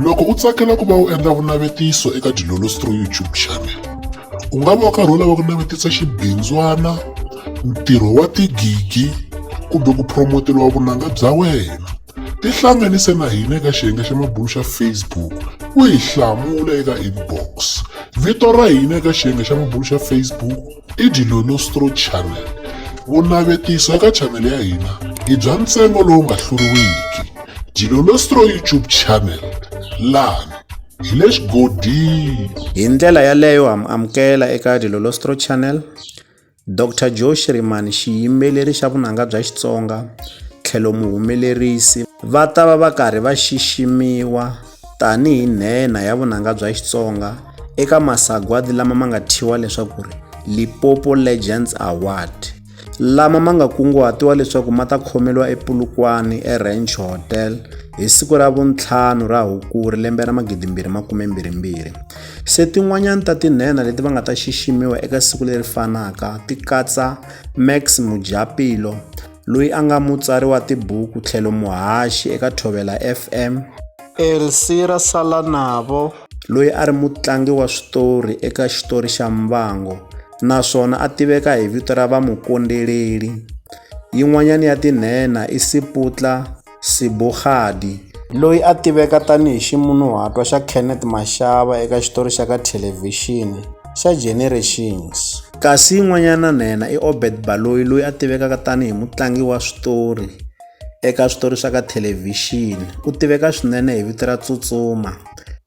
Loko u tsakela ku va u endla vunavetiso eka Dilolostro YouTube channel, u nga va u karhi u lava ku navetisa xibindzwana, ntirho wa tigigi kumbe ku promoteriwa vunanga bya wena. Tihlanganise na hina eka xiyenge xa mabulo xa Facebook u hi hlamula eka inbox. Vito ra hina eka xiyenge xa mabulo xa Facebook. I Dilo Nostro Channel. Vunavetiso eka chanel ya hina i bya ntsengo lowu nga hluriwiki. Dilo Nostro YouTube Channel lani hi le xigodini. Hi ndlela yaleyo ha mi amukela eka Dilo Nostro Channel. Dr Joe Shirimani xiyimbeleri xa vunanga bya Xitsonga tlhelo muhumelerisi va ta va va karhi va xiximiwa tanihi nhenha ya vunanga bya Xitsonga eka masagwadi lama ma nga thyiwa leswaku ri Lipopo Legends Award lama ma nga kunguhatiwa leswaku ma ta khomeliwa ePulukwane eRanch Hotel hi siku ra vuntlhanu ra Hukuri lembe ra 2022 se tin'wanyana ta tinhenha leti va nga ta xiximiwa eka siku leri fanaka ti katsa Max Mujapilo loyi a nga mutsari wa tibuku tlhelo muhaxi eka Thovela FM, Elsira Salanavo, loyi a ri mutlangi wa switori eka xitori xa Mbango naswona a tiveka hi vito ra Vamukondeleli. Yin'wanyana ya tinhenha i Siputla Sibogadi, loyi a tiveka tani hi ximunhuhatwa xa Kenneth Mashaba eka xitori xa ka thelevhixini xa Generations. Kasi yin'wanyana na yena i Obed Baloyi loyi a tivekaka tani hi mutlangi wa switori eka switori swa ka thelevhixini. U tiveka swinene hi vito ra Tsutsuma.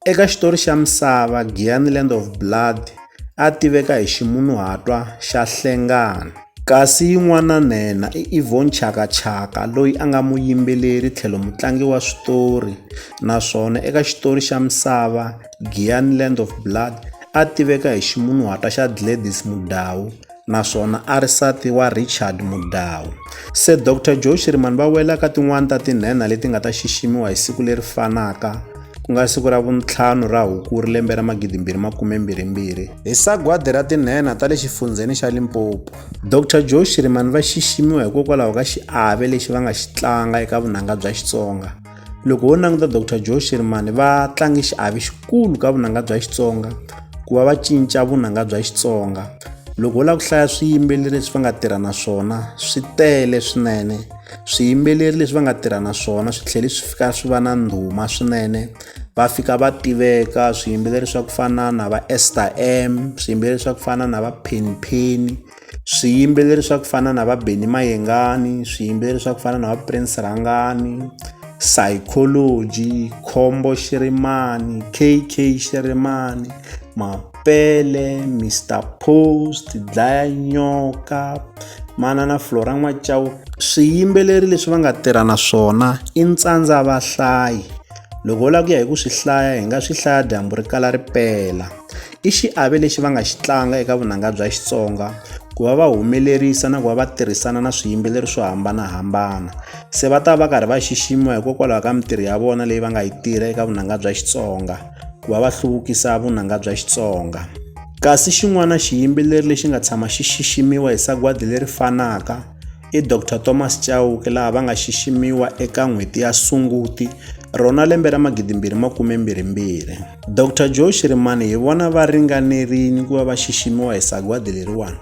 Eka xitori xa Misava, Giyani Land of Blood, a tiveka hi ximunhuhatwa xa Hlengani. Kasi yin'wana nhenha i Yvonne Chaka Chaka loyi a nga muyimbeleri tlhelo mutlangi wa switori naswona eka xitori xa Misava, Giyani Land of Blood a tiveka hi ximunhuhatwa xa Gladys Mudau. naswona a ri sati wa Richard Mudau. Se Doctor Joe Shirimani va wela ka tin'wana ta tinhenha leti nga ta xiximiwa hi siku leri fanaka ku nga siku ra vuntlhanu ra Hukuri lembe ra 2022 hi sagwadi ra tinhenha ta le xifundzheni xa Limpopo. Doctor Joe Shirimani va xiximiwa hikokwalaho ka xiave lexi va nga xi tlanga eka vunanga bya Xitsonga. loko ho languta dr joe shermani va tlange xiavi xikulu ka vunanga bya xitsonga ku va va cinca vunanga bya xitsonga loko ho lava ku hlaya swiyimbeleri leswi va nga tirha na swona swi tele swinene swiyimbeleri leswi va nga tirha na swona swi tlhele swi fika swi va na ndhuma swinene va fika va tiveka swiyimbeleri swa ku fana na va ester m swiyimbeleri swa ku fana na va penipeni swiyimbeleri swa ku fana na va Benny Mayengani swiyimbeleri swa ku fana na va Prince Rhangani Psychology Khombo Xirimani K_K Xirimani Mapele Mister Post Dlaya Nyoka manana Flora N'wachauke swiyimbeleri leswi va nga tirha na swona i ntsandza vahlayi loko u lava ku ya hi ku swi hlaya hi nga swi hlaya dyambu ri kala ri pela i xiave lexi va nga xi tlanga eka vunanga bya Xitsonga ku va va humelerisa na ku va va tirhisana na swiyimbeleri swo hambanahambana se va ta va karhi va xiximiwa hikokwalaho ka mintirho ya vona leyi va nga yi tirha eka vunanga bya Xitsonga ku va va hluvukisa vunanga bya Xitsonga kasi xin'wana xiyimbeleri lexi nga tshama xi xiximiwa hi sagwadi leri fanaka i Dr Thomas Chauke laha va nga xiximiwa eka n'hweti ya Sunguti rona lembe ra 2022. Dr Joe Shirimani hi vona va ringanerile ku va va xiximiwa hi sagwadi leriwani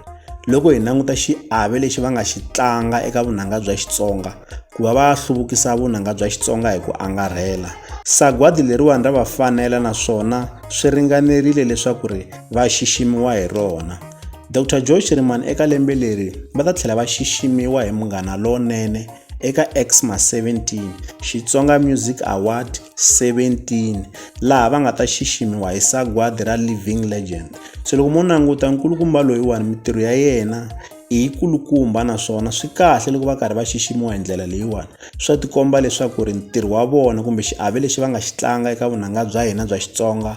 loko hi languta xiave lexi va nga xi tlanga eka vunanga bya Xitsonga ku va va hluvukisa vunanga bya Xitsonga hi ku angarhela sagwadi leriwani ra va fanela naswona swi ringanerile leswaku ri va xiximiwa hi rona Dr Joy Shirimani eka lembe leri va ta tlhela va xiximiwa hi Munghana Lonene eka Xmas 17 Xitsonga Music Award 17 laha va nga ta xiximiwa hi sagwadi ra Living Legend se loko mo languta nkulukumba loyiwani mitirho ya yena i yi kulukumba naswona swi kahle loko va karhi va xiximiwa hi ndlela leyiwani swa tikomba leswaku ri ntirho wa vona kumbe xiave lexi va nga xi tlanga eka vunanga bya hina bya xitsonga